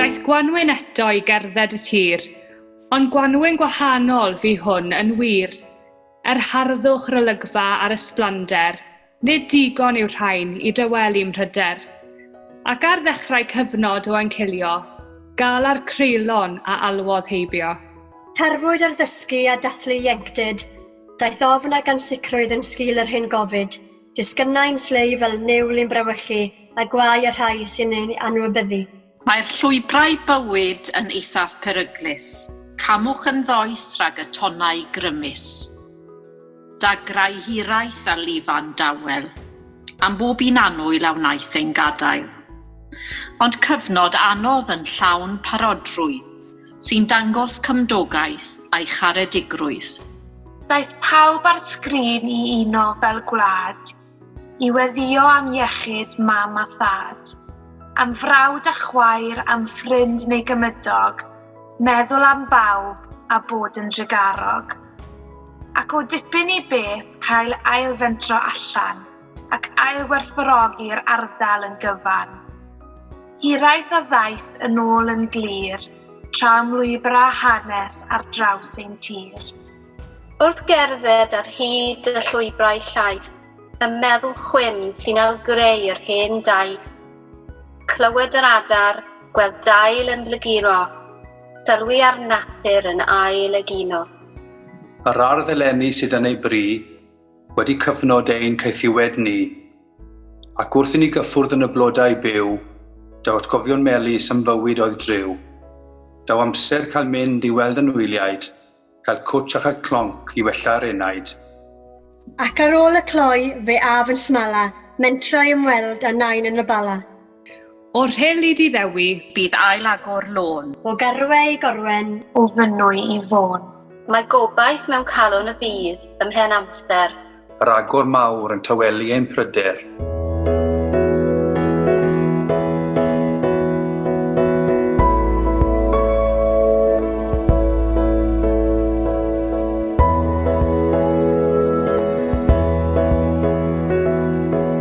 Daeth gwanwyn eto i gerdded y tir, ond gwanwyn gwahanol fu hwn yn wir. Yr harddwch, r'olygfa a'r ysblander, nid digon yw'r rhain i dawelu 'mhryder. Ac ar ddechrau cyfnod o encilio, galar creulon a alwodd heibio. Tarfwyd ar ddysgu a dathlu ieunctid, daeth ofn ag ansicrwydd yn sgil yr hyn gofid. Disgynnai'n slei fel niwl i'n brawychu, a gwae y rhai sy'n ein anwybyddu. Mae'r llwybrau bywyd yn eithaf peryglus, camwch yn ddoeth rhag y tonnau grymus. Dagrau hiraeth a lifan dawel, am bob un annwyl a wnaeth ein gadael. Ond cyfnod anodd yn llawn parodrwydd, sy'n dangos cymdogaeth a'i charedigrwydd. Daeth pawb ar sgrin i uno fel gwlad, i weddïo am iechyd mam a thad, am frawd a chwaer, am ffrind neu gymydog, meddwl am bawb a bod yn drugarog. Ac o dipyn i beth cael ailfentro allan. ac ailwerthfawrogi'r ardal yn gyfan. Hiraeth a ddaeth yn ôl yn glir tra ymlwybra hanes ar draws ein tir. Wrth gerdded ar hyd y llwybrau llaith, y meddwl chwim sy'n ail-greu yr hen daith. Clywed yr adar, gweld dail yn blaguro, sylwi ar natur yn ail egino. Yr ardd eleni sydd yn ei bri, Wedi cyfnod ein caethiwed ni, ac wrth i ni gyffwrdd yn y blodau byw, daw atgofion melys am fywyd oedd driw. Daw amser cael mynd i weld anwyliaid, cael cwtsh a chael clonc i wella'r enaid. Ac ar ôl y cloi, fe af yn smala, mentro i ymweld â nain yn y Bala. O Rheli di Ddewi. Bydd ail agor lôn. O Garwe i Gorwen. O Fynwy i Fôn. Mae gobaith mewn calon y byd, ym mhen amser. Yr agor mawr yn tawelu ein pryder.